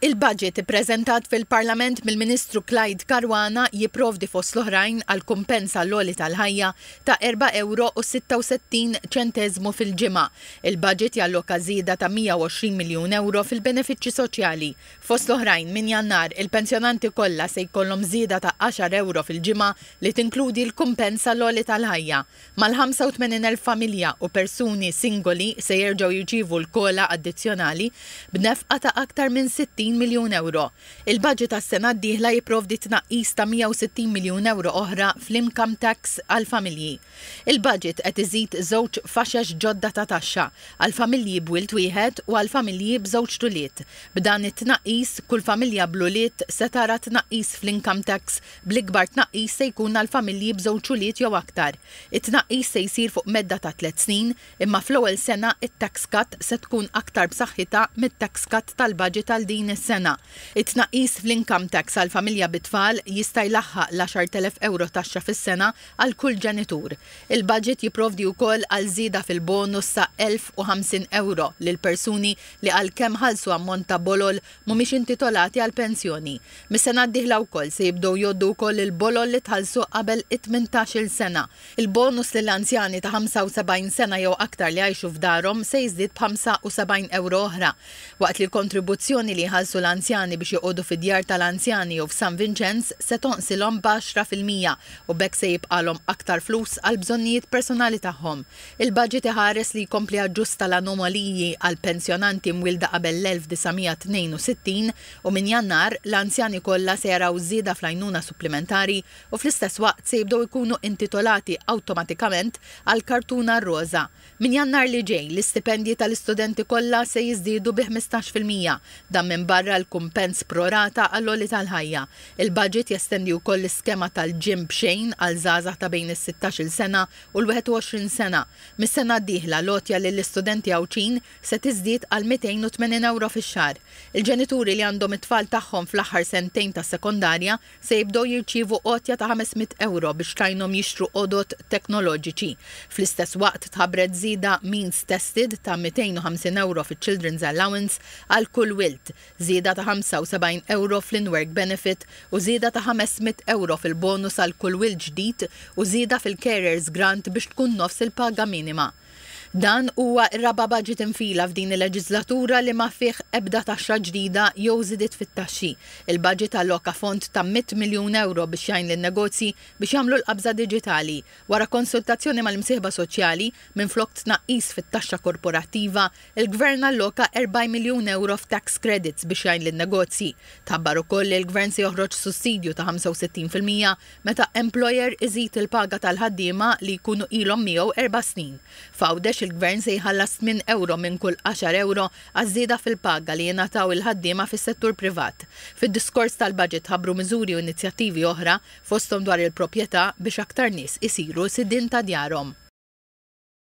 Il-budget ippreżentat fil-Parlament mill-Ministru Clyde Caruana jipprovdi fost l-oħrajn għal kumpens għall-għoli tal-ħajja ta' erba' ewro u 66 ċenteżmu fil-ġimgħa. Il-budget jalloka żieda ta' 120 miljun ewro fil-benefiċċji soċjali. Fost l-oħrajn, minn Jannar, il-pensjonanti kollha se jkollhom żieda ta' għaxar ewro fil-ġimgħa li tinkludi l-kumpens għall-għoli tal-ħajja. Mal-85,000 familja u persuni singoli se jerġgħu jirċievu l-COLA addizzjonali b'nefqa ta' aktar minn 60 miljun ewro. Il-baġit għas-sena d-dieħla jipprovdi tnaqqis ta' 160 miljun ewro oħra fl-income tax għall-familji. Il-baġit qed iżid żewġ faxex ġodda ta' taxxa, għall-familji b'wild wieħed u għall-familji b'żewġt ulied. B'dan it-tnaqqis, kull familja bl-ulied se tara tnaqqis fl-income tax Bl-ikbar tnaqqis se jkun għal familji b'żewġ ulied jew aktar. It-tnaqqis se jsir fuq medda ta' tliet snin, imma fl-ewwel sena t-tax cut se tkun aktar b'saħħitha mit-tax cut tal-baġit għal din is-sena. It-tnaqqis fl-income tax għal familja bi tfal jista' jlaħħaq l-10,000 ewro taxxa fis-sena għal kull ġenitur. Il-baġit jipprovdi wkoll għal żieda fil-bonus sa 1,050 ewro lil persuni li għalkemm ħallsu ammont ta' bolol mhumiex intitolati għal pensjoni. Mis-sena d-dieħla wkoll se jibdew jgħoddu wkoll il-bolol li tħallsu qabel it-tmintax-il sena. Il-bonus lil anzjani ta' 75 sena jew aktar li jgħixu f'darhom se jiżdied b'75 ewro oħra, waqt li l-kontribuzzjoni li jħallsu l-anzjani biex joqogħdu fid-djar tal-anzjani jew f'San Vinċenz se tonqsilhom b'għaxra fil-mija u b'hekk se jibqagħlhom aktar flus għall-bżonnijiet personali tagħhom. Il-baġit iħares li jkompli jaġġusta l-anomaliji għal pensjonanti mwielda qabel l-1962 u minn Jannar, l-anzjani kollha se jaraw żieda fl-għajnuna supplimentari u fl-istess waqt se jibdew ikunu intitolati awtomatikament għall-kartuna roża. Minn Jannar li ġej, l-istipendji tal-istudenti kollha se jiżdiedu bi ħmistax fil-mija, dan minbarra l-kumpens pro rata għall-għoli tal-ħajja. Il-baġit jestendi wkoll l-iskema tal-ġim b'xejn għal żgħażagħ ta' bejn is-sittax-il sena u l-21 sena. Mis-sena d-dieħla l-għotja lill-istudenti Għawdxin se tiżdied għal 280 ewro fix-xahar. Il-ġenituri li għandhom it-tfal tagħhom fl-aħħar sentejn tas-sekondarja se jibdew jirċievu għotja ta' 500 ewro biex tgħinhom jixtru għodod teknoloġiċi. Fl-istess waqt tħabbret żieda means tested ta' 250 ewro fiċ-Children's Allowance għal kull wild. żieda ta' 75 ewro fl-in-work benefit u żieda ta' 500 ewro fil-bonus għal kull wild ġdid u żieda fil-carers grant biex tkun nofs il-paga minima. Dan huwa r-raba' baġit infila f'din il-leġiżlatura li ma fih ebda taxxa ġdida jew żidiet fit-taxxi. Il-baġit alloka fond ta' mitt miljun ewro biex jgħin lin-negozji biex jagħmlu l-qabża diġitali. Wara konsultazzjoni mal-imsieħba soċjali, minflok tnaqqis fit-taxxa korporattiva, Il-Gvern alloka erbgħin miljun ewro f'tax credits biex jgħin lin-negozji. Tħabbar ukoll li l-Gvern se joħroġ sussidju ta' 65 fil-mija meta employer iżid il-paga tal-ħaddiema li jkunu ilhom miegħu erba' snin. F'Għawdex il-Gvern se jħallas tmien ewro minn kull għaxar ewro għaż-żieda fil-paga li jingħataw il-ħaddiema fis-settur privat. Fid-diskors tal-Budget tħabbru miżuri u inizjattivi oħra, fosthom dwar il-propjetà, biex aktar nies isiru sidien ta' djarhom.